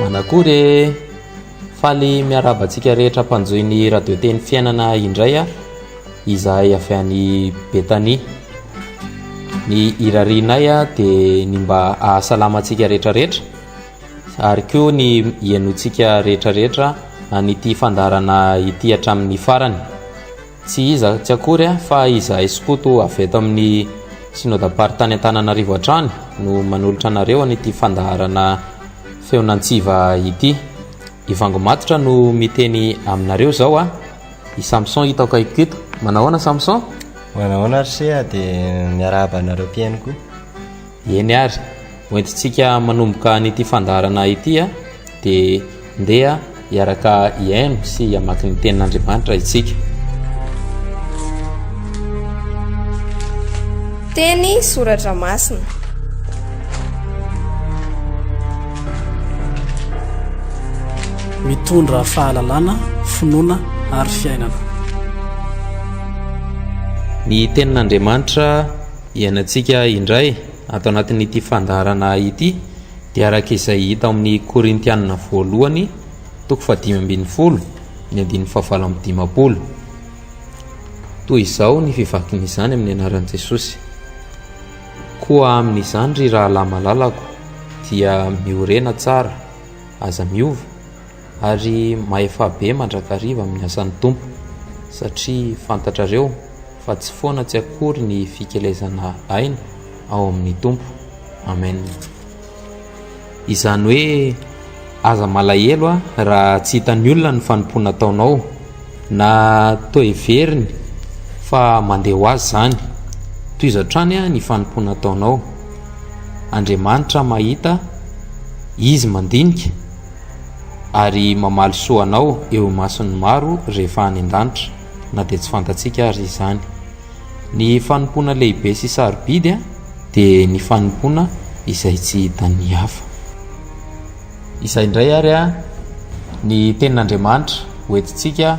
Manakory e! Faly miarahaba antsika rehetra mpanjohy ny radio teny fiainana indray aho. Izahay avy any Betania. Ny irarianay dia ny mba hahasalama antsika rehetrarehetra ary koa ny hihainoantsika rehetrarehetra an'ity fandaharana ity hatramin'ny farany. Tsy iza tsy akory fa izahay skoto avy eto amin'ny Synodam-paritany Antananarivo hatrany no manolotra anareo an'ity fandaharana Feon'Antsiva ity. I Vango Matotra no miteny aminareo izao a! I Samson hita ao akaikiko eto. Manahoana Samson? Manahoana ry Seha dia miarahaba anareo mpihaino koa. Eny ary, ho entintsika manomboka an'ity fandaharana ity dia ndeha hiaraka hihaino sy hamaky ny tenin'Andriamanitra isika. Teny soratra masina. Mitondra fahalalana, finoana ary fiainana. Ny tenin'Andriamanitra Hiainantsika indray ato anatin'ity fandaharana ity dia araka izay hita ao amin'ny Korintianina voalohany toko fahadimy ambin'ny folo ny andininy fahavalo amby dimampolo. Toy izao ny fivakin'izany amin'ny anaran'i Jesosy. Koa amin'izany ry rahalahy malalako dia miorena tsara, aza miova, ary mahefa be mandrakariva amin'ny asan'ny Tompo, satria fantatrareo fa tsy foana tsy akory ny fikelezana aina ao amin'ny Tompo. Amen. Izany hoe aza malahelo a raha tsy hitan'ny olona ny fanompoana ataonao, na toa heveriny fa mandeha ho azy izany. Tohizo hatrany a ny fanompoana ataonao. Andriamanitra mahita, Izy mandinika. ary mamaly soa anao eo imason'ny maro rehefa any an-danitra, na dia tsy fantatsika ary izany. Ny fanompoana lehibe sy sarobidy dia ny fanompoana izay tsy hitan'ny hafa. Izay indray ary ny tenin'Andriamanitra hoentintsika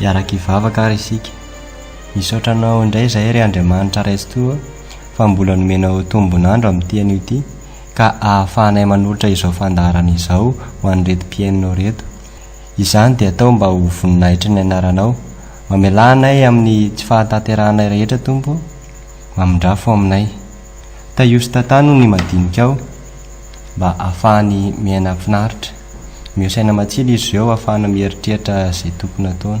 Hiaraka hivavaka ary isika. Misaotra anao indray izahay ry Andriamanitra Raisintoa fa mbola nomenao tombon'andro amin'ity anio ity ka ahafahanay manolotra izao fandaharana izao ho an'ireto mpihainonao ireto. Izany dia atao mba ho voninahitry ny anaranao. Mamelà anay amin'ny tsy fahatanterahanay rehetra, Tompo, mamindrafo aminay. Tahio sy tantano ny madinikao mba hahafahany miaina finaritra. Mio saina matsilo izy ireo hahafahana mieritreritra izay tokony hataony.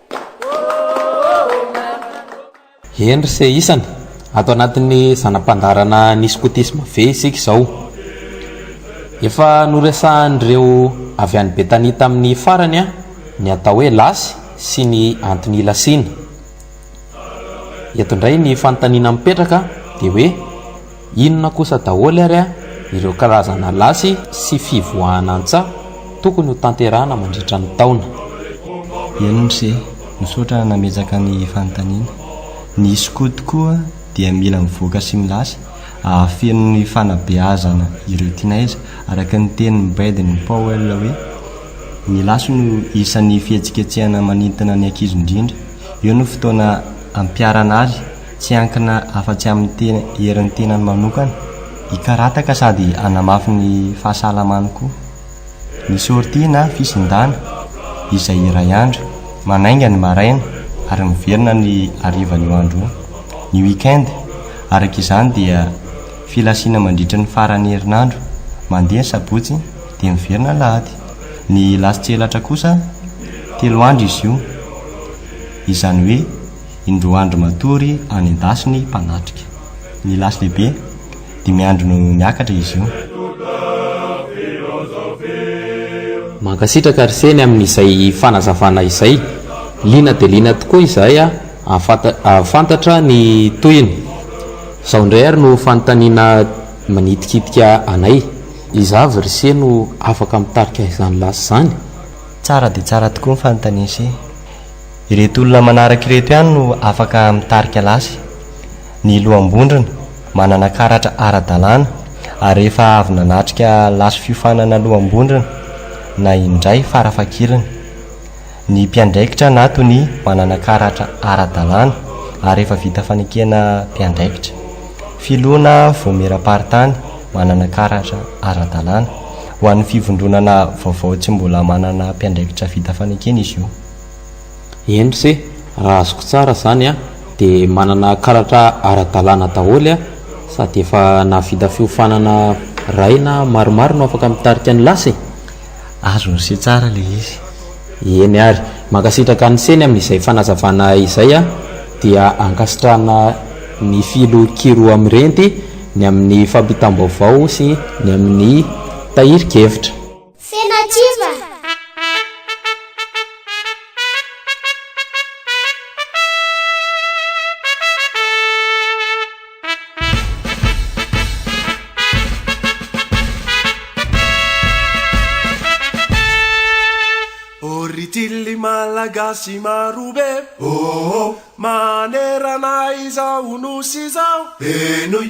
Henry se isany, ato anatin'ny zana-pandaharana ny skotisma ve isika izao? Efa noresahan'ireo avy any Betania tamin'ny farany ny atao hoe lasy sy ny antony ilasiana. Eto indray ny fanontaniana mipetraka dia hoe, Inona kosa daholo ary a ireo karazana lasy sy fivoahana antsaha tokony ho tanterahana mandritra ny taona? Eny mse, misaotra nametraka ny fanontaniana. Ny Scout tokoa dia mila mivoaka sy milasy ahafeno ny fanabeazana ireo tinaiza, araka ny tenin'i Baden Powell hoe, ny lasy no isan'ny fihetsiketsehana manintona ny ankizy indrindra. Io no fotoana ampiharana azy Tsy hiankina afa-tsy amin'ny tena herin'ny tenany manokana hikarataka sady hanamafy ny fahasalamany koa. Ny sortie na fisindàna, izay iray andro, manainga ny maraina ary miverina ny harivan'io andro io. Ny week-end, araka izany, dia filasiana mandritry ny faran'ny herinandro, mandeha ny sabotsy dia miverina ny lahady. Ny lasin-tselatra kosa, telo andro izy io, izany hoe. Indroa andro matory any an-dasy ny mpanatrika. Ny lasy lehibe, dimy andro no miakatra izy io. Mankasitraka ry Seny amin'izay fanazavana izay. Liana dia liana tokoa izahay hahafantatra ny tohiny. Izao indray ary no fanontaniana manitikitika anay. Iza avy ry Se no afaka mitarika izany lasy izany? Tsara dia tsara tokoa ny fanontanian'i Se. Ireto olona manaraka ireto ihany no afaka mitarika lasy, ny loham-bondrona, manana karatra ara-dalàna ary efa avy nanatrika lasy fiofanana loham-bondrona na indray fara-fakirany, ny mpiandraikitra na tonia manana karatra ara-dalàna ary efa vita fanekena mpiandraikitra, filoha na voamieram-paritany manana karatra ara-dalàna. Ho an'ny fivondronana vaovao tsy mbola manana mpiandraikitra vita fanekena izy io. Eny se, raha azoko tsara zany an, de manana karatra ara-dalàna daholo an, sady efa nahavita fiofanana ray na maromaro no afaka mitarika ny lasy e! Azony se tsara le izy. Eny ary, mankasitraka an'i Seny amin'izay fanazavana izay an, dia ankasitrahana ny Filoha Kiroa Mirenty ny amin'ny fampitam-baovao sy ny amin'ny tahirin-kevitra. Tsena kiva! Oritily malagasy maro be oh oh Manerana izao nosy izao Henoy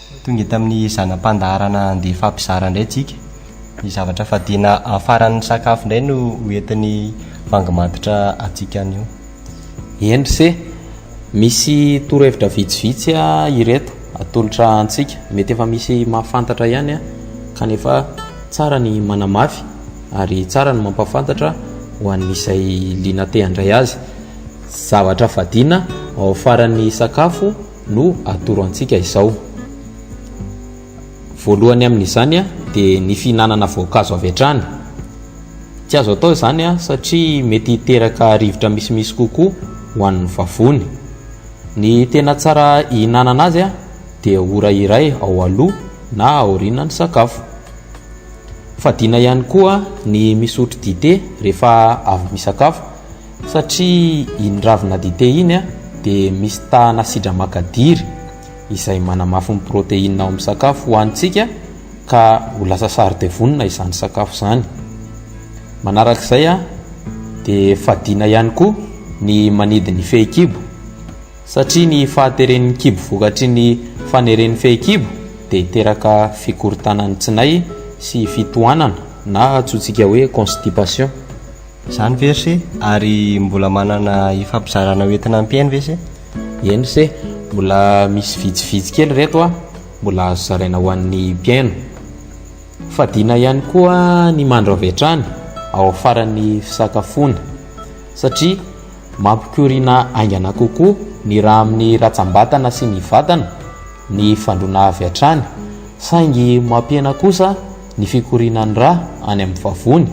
Tonga eto amin'ny zana-pandaharana handeha hifampizara indray tsika ny zavatra fadiana amin'ny faran'ny sakafo indray no ho entin'ny vangy matotra antsika anio. Eny ry se, misy torohevitra vitsivitsy ireto atolotra antsika. Mety efa misy mahafantatra ihany kanefa tsara ny manamafy ary tsara ny mampahafantatra ho an'izay liana te-handray azy. Zavatra fadiana ao faran'ny sakafo. no atoro antsika izao. Voalohany amin'izany dia ny fihinanana voankazo avy hatrany. Tsy azo atao izany satria mety hiteraka rivotra misimisy kokoa ho an'ny vavony. Ny tena tsara hihinanana azy dia ora iray ao aloha na aoriana ny sakafo. Fadiana ihany koa ny misotro dite rehefa avy misakafo Satria iny ravina dite iny dia misy tahana sidra makadiry izay manamafy ny protéine ao amin'ny sakafo hohanintsika ka ho lasa saro-devonina izany sakafo izany. Manaraka izay dia fadiana ihany koa ny manidy ny fehikibo satria ny fahateren'ny kibo vokatry ny faneren'ny fehikibo dia hiteraka fikorontanan'ny tsinay sy fitohanana na antsointsika hoe constipation. Zany ve ry se? Ary mbola manana ifampizarana ho entina ampiaino ve se? Eny se, mbola misy vitsivitsy kely ireto a, mbola azo zaraina ho an'ny mpiaino. Fadiana ihany koa ny mandro avy hatrany ao faran'ny fisakafoana satria mampikoriana haingana kokoa ny ra amin'ny ratsam-batana sy ny vatana ny fandroana avy hatrany saingy mampihena kosa ny fikorianan'ny ra any amin'ny vavony.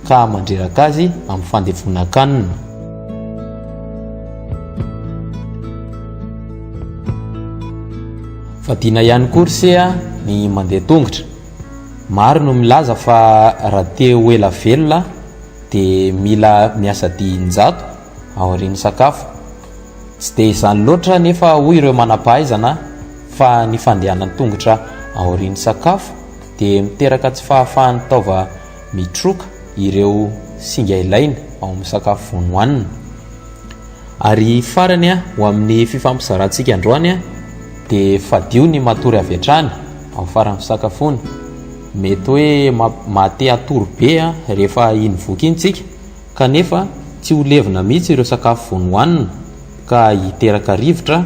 ka hahamandreraka azy amin'ny fandevonan-kanina. Fadiana ihany koa ry se a, ny mandeha tongotra. Maro no milaza fa raha te ho ela velona dia mila miasa dia in-jato aorian'ny sakafo. Tsy dia izany loatra anefa hoy ireo manam-pahaizana fa ny fandehanan-tongotra aorian'ny sakafo dia miteraka tsy fahafahan'ny taova mitroka ireo singa ilaina ao amin'ny sakafo vao nohanina. Ary farany ho amin'ny fifampizarantsika androany dia fadio ny matory avy hatrany ao faran'ny fisakafoana. Mety hoe mahate hatory be rehefa iny voky iny tsika kanefa tsy ho levona mihitsy ireo sakafo vao nohanina ka hiteraka rivotra.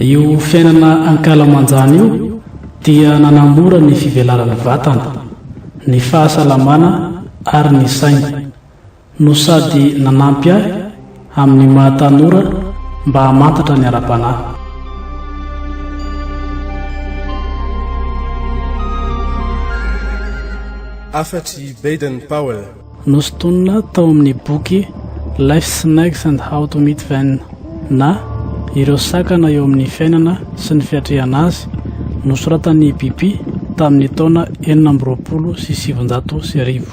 Io fiainana ankalamanjana io dia nanamora ny fivelaran'ny vatana, ny fahasalamana ary ny saina, no sady nanampy ahy amin'ny maha tanora mba hamantatra ny ara-panahy. Hafatry Baden-Powell. Nosintonina tao amin'ny boky Life's Snags and How to Meet Them na Ireo Sakana eo Amin'ny Fiainana sy ny Fiatrehana Azy, nosoratan'i Bibi tamin'ny taona enina amby roapolo sy sivinjato sy arivo.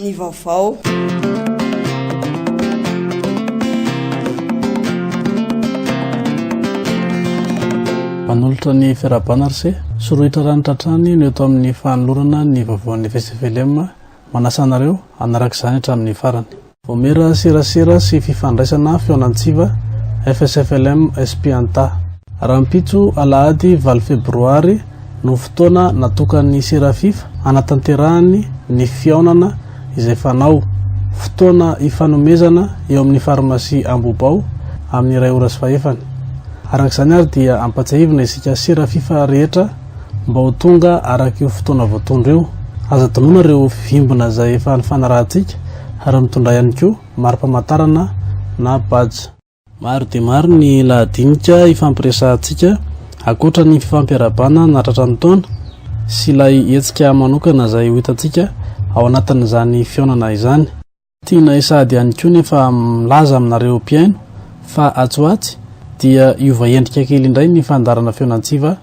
ny vaovao. Manolotra ny fiarahabana RC, sorohitra ranitra hatrany no eto amin'ny fanolorana ny vaovaon'ny FSFLM, manasa anareo hanaraka izany hatramin'ny farany. Omera serasera sy fifandraisana Feon'Antsiva, FSFLM, SP Anta. Rahampitso, alahady valo febroary, no fotoana natokan'ny Serafifa hanatanterahany ny fihaonana izay fanao, fotoana ifanomezana eo amin'ny farmasia Ambohibao, amin'ny iray ora sy fahefany. Araka izany ary dia ampatsiahivina isika Serafifa rehetra, mba ho tonga araka io fotoana voatondro io. Aza adinoina ireo vimbina izay efa nifanarahantsika ary mitondrà ihany koa mari-pamantarana na badge. Maro dia maro ny lahadinika hifampiresahantsika ankoatra ny fifampiarahabana nahatratra ny taona sy ilay hetsika manokana izay ho hitantsika ao anatin'izany fihaonana izany. Tianay sahady ihany koa nefa milaza aminareo mpihaino fa atsy ho atsy dia hiova endrika kely indray ny fandaharana Feon'Antsiva.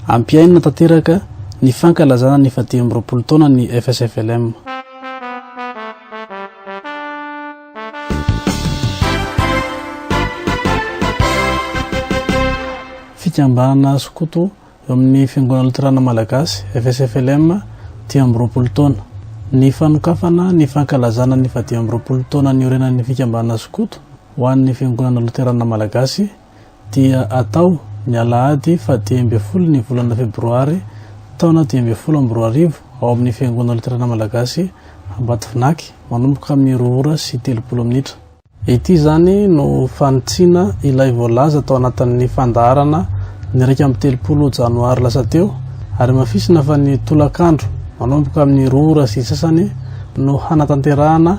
Ampihainina tanteraka ny fankalazana ny efa dimy amby roapolo taona ny FSFLM. Fikambanana skoto. Eo amin'ny Fiangonana Loterana Malagasy, FSFLM, dimy amby roapolo taona. Ny fanokafana ny fankalazana ny fahadimy amby roapolo taona niorenan'ny Fikambanana Skoto ho an'ny Fiangonana Loterana Malagasy dia atao ny alahady fahadimy ambin'ny folo ny volana febroary taona dimy ambin'ny folo amby roa arivo ao amin'ny Fiangonana Loterana Malagasy Ambatovinaky manomboka amin'ny roa ora sy telopolo minitra. Ity izany no fanitsiana ilay voalaza tao anatin'ny fandaharana ny iraika amby telopolo janoary lasa teo ary hamafisina fa ny tolakandro manomboka amin'ny roa ora sy sasany no hanatanterahana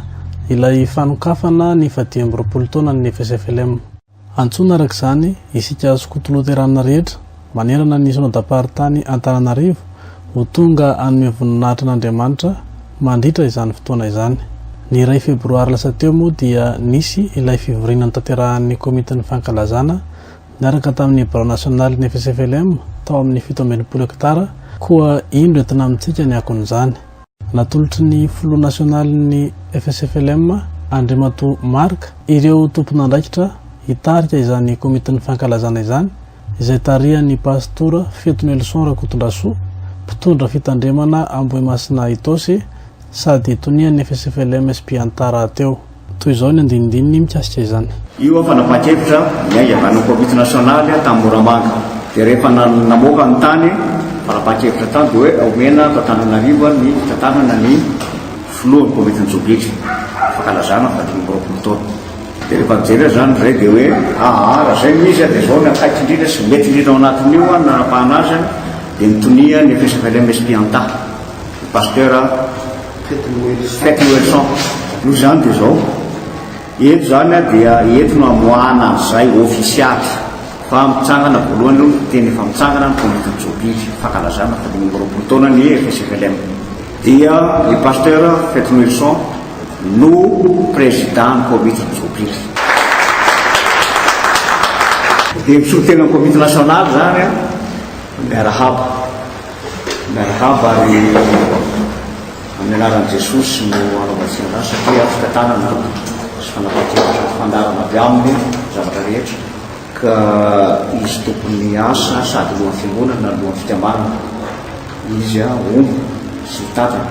ilay fanokafana ny fahadimy amby roapolo taonan'ny FSFLM. Antsoina araka izany isika skoto loterana rehetra manerana ny Synodam-paritany Antananarivo ho tonga hanome voninahitra an'Andriamanitra mandritra izany fotoana izany. Ny iray febroary lasa teo moa dia nisy ilay fivoriana notanterahan'ny Komitin'ny Fankalazana niaraka tamin'ny birao nasionalin'ny FSFLM tao amin'ny fito amby enimpolo hektara koa indro entina amintsika ny akon'izany. Natolotry ny filoha nasionalin'ny FSFLM, Andriamatoa Marc, ireo tomponandraikitra hitarika izany komitin'ny fankalazana izany, izay tarihan'ny Pastora Feto Nelson Rakotondrasoa, mpitondra fitandremana Ambohimasina Itaosy sady tonian'ny FSFLM-SP Antar rahateo. Toy izao ny andinindininy mikasika izany. Io fanapakevitra niaingavan'ny Komity Nasionaly tany Moramanga. Dia rehefa namoaka ny tany fanapakevitra tany dia hoe omena ato Antananarivo ny fitantanana ny Filohan'ny Komitin'ny Tsogitry fankalazana faha dimy amby roapolo taona. Dia rehefa nijery azy izany indray dia hoe aa raha izay no izy dia izao ny akaiky indrindra sy mety indrindra ao anatin'io ny nanapahana azy dia ny tonia ny FSFLM Espianta, ny Pasteur Fety Noely Cent. Fety Noely Cent. Noho izany dia izao, eto izany dia eto no amoahana an'izay ofisialy fa mitsangana voalohany aloha ny teny efa mitsangana ny Komity Jobily fankalazana faharoa amby roapolo taona ny FSFLM. Dia i Pasteur Fety Noely Cent no Président ny Komity Jobily. Dia mpisolo tena ny Komity Nasionaly izany an! Miarahaba. Miarahaba ary amin'ny anaran'i Jesosy no anaovantsika an'izany satria afaka tanana sy fanapahan-kevitra mifandarana avy aminy zavatra rehetra ka izy tompon'ny asa sady lohan'ny fiangonana lohan'ny fikambanana izy omby sy mitantana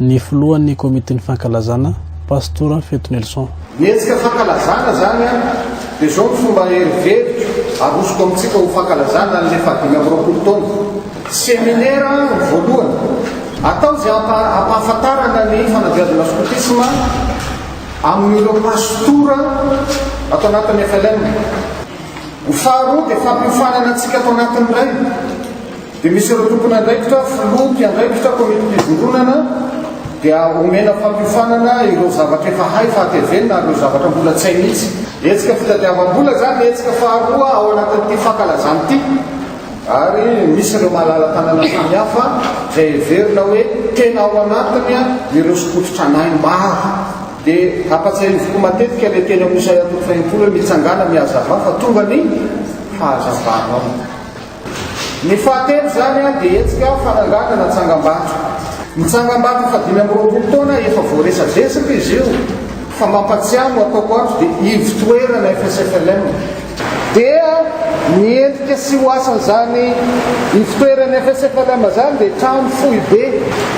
ny filohan'ny komitin'ny fankalazana, Pastora Feto Nelson. Mihetsika fankalazana izany an, dia izao ny fomba heriveriko arosoko amintsika ho fankalazana an'ilay fahadimy amby roapolo taona. Seminera ny voalohany, atao izay hampahafantarana ny fanabeazana skotisma amin'ireo pastora ato anatin'ny FLM. Ny faharoa dia fampiofanana antsika ato anatin'ny Ray. Dia misy ireo tompon'andraikitra, filoha, mpiandraikitra, komitim-pivondronana, dia omena fampiofanana ireo zavatra efa hay fa hatevenina ary ireo zavatra mbola tsy hay mihitsy. Hetsika fitadiavam-bola izany ny hetsika faharoa ao anatin'ity fankalazana ity ary misy ireo malala-tanana samihafa izay heverina hoe tena ao anatiny ireo skoto-tranainy maro. Dia ampatsiahiviko matetika ilay teny amin'ny Isaia toko fahenimpolo hoe, Mitsangàna, mihazavà, fa tonga ny fahazavanao. Ny fahatelo izany dia hetsika fananganana tsangambato. Ny tsangambaton'ny fahadimy amby roapolo taona efa voaresadresaka izy io fa mampatsiahy no ataoko ato dia ivotoerana FSFLM. Dia ny endrika sy ho asan'izany ivotoeran'ny FSFLM izany dia trano foibe.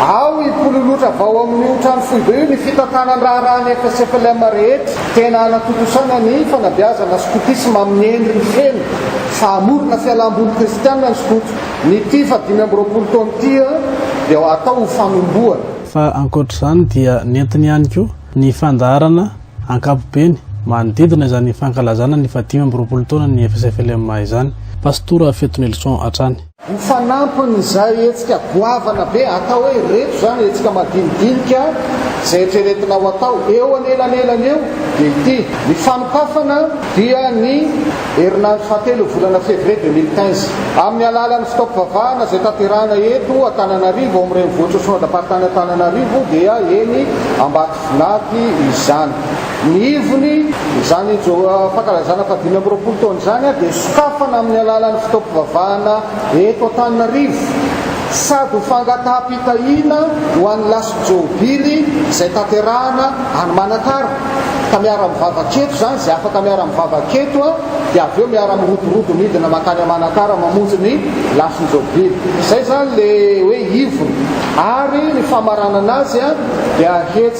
Ao hipololotra avy ao amin'io trano foibe io ny fitantanan-draharahan'ny FSFLM rehetra. Tena hanatontosana ny fanabeazana skotisma amin'ny endriny feno. Fahamorona fialam-boly kristiana ny skoto. Ny Tifa dimy amby roapolo taona ity dia atao ho fanombohana. Fa ankoatra izany dia nentiny ihany koa ny fandaharana ankapobeny manodidina izany fankalazana ny fahadimy amby roapolo taonan'ny FSFLMA izany. Pastora Fetonelison hatrany. Ho fanampin'izay hetsika goavana be, atao hoe ireto izany hetsika madinidinika izay eritreretina ho atao eo anelanelany eo dia ity, ny fanokafana dia ny herinandro fahatelon'ny volana février deux mille quinze, amin'ny alalan'ny fitaom-pivavahana izay tanterahina eto Antananarivo ao amin'ny renivohitr'i Soandraparitany Antananarivo dia eny Ambatofinady izany. Ny ivony, izany fankalazana fahadimy amby roapolo taona izany dia sokafana amin'ny alalan'ny fotoam-pivavahana eto Antananarivo sady ho fangataham-pitahiana ho an'ny lasin'i Jobily izay tanterahana any Manakara. Ka miara-mivavaka eto izany izay afaka miara-mivavaka eto dia avy eo miara-miroborobo midina mankany Manakara mamonjy ny lasin'i Jobily. Izay izany ilay hoe ivony. Ary ny famaranana azy dia hetsika.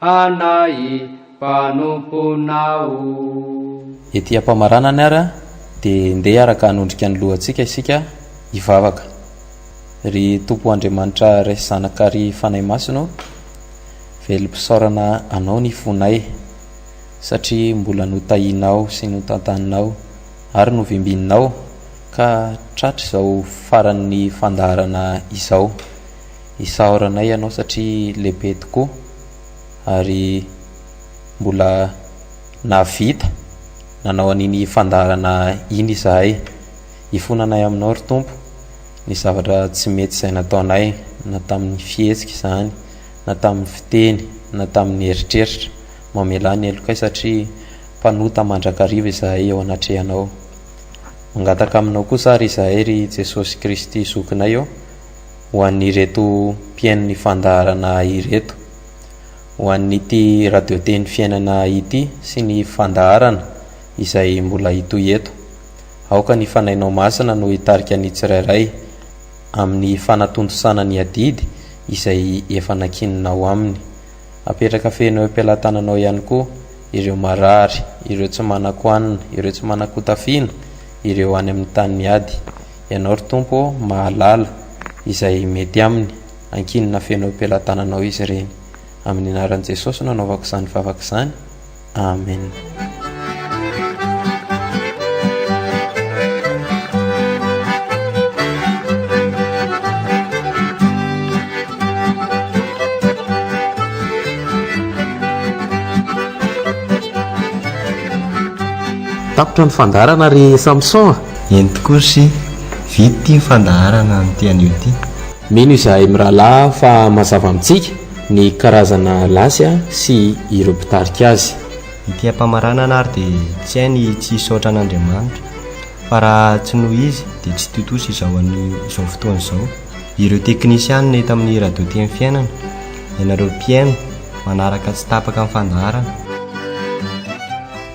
Hanahy mpanomponao o. Ety am-pamaranany ary dia ndeha hiaraka hanondrika ny lohantsika isika hivavaka. Ry Tompo Andriamanitra Ray Zanaka ary Fanahy Masina o, velom-pisaorana Anao ny fonay satria mbola notahianao sy notantaninao ary novimbinao ka tratry izao faran'ny fandaharana izao. isaoranay ianao satria lehibe tokoa ary mbola nahavita nanao an'iny fandaharana iny izahay. Ifonanay aminao ry Tompo ny zavatra tsy mety izay nataonay na tamin'ny fihetsika izany na tamin'ny fiteny na tamin'ny eritreritra. Mamelà ny helokay satria mpanota mandrakariva izahay eo anatrehanao. Mangataka aminao kosa ary izahay ry Jesosy Kristy Zokinay ô. ho an'ireto mpihaino ny fandaharana ireto. Ho an'ity radio teny fiainana ity sy ny fandaharana izay mbola hitohy eto. Aoka ny Fanahinao Masina no hitarika ny tsirairay amin'ny fanatontosana ny adidy izay efa nankininao aminy. Apetraka feno eo am-pelatananao ihany koa ireo marary, ireo tsy manan-ko hanina, ireo tsy manan-ko tafiana, ireo any amin'ny tany miady. Ianao, ry Tompo ô, mahalala izay mety aminy. Ankinina feno eo am-pelatananao izy ireny. Amin'ny anaran'i Jesosy no anaovako izany vavaka izany. Amen. tapitra ny fandaharana ry samson a eny tokoa sy vita ity fandaharana an'ity anio ity mino izahay mirahalahy fa mazava amintsika ny karazana lasy sy ireo mpitarika azy. Ity ampamaranana ary dia tsy hay ny tsy hisaotra an'Andriamanitra, fa raha tsy noho Izy dia tsy tontosa izao an'izao fotoana izao ireo teknisianina eto amin'ny Radio Teny Fiainana, ianareo mpihaino manaraka tsy tapaka ny fandaharana.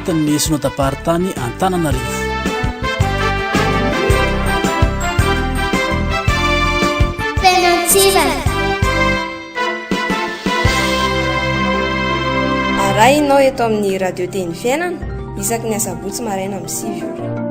anatin'ny sinodaparitany antananarivo tenantsivana arahinao eto amin'ny radio teny fiainana isaky ny asabotsy maraina amin'ny sivy ora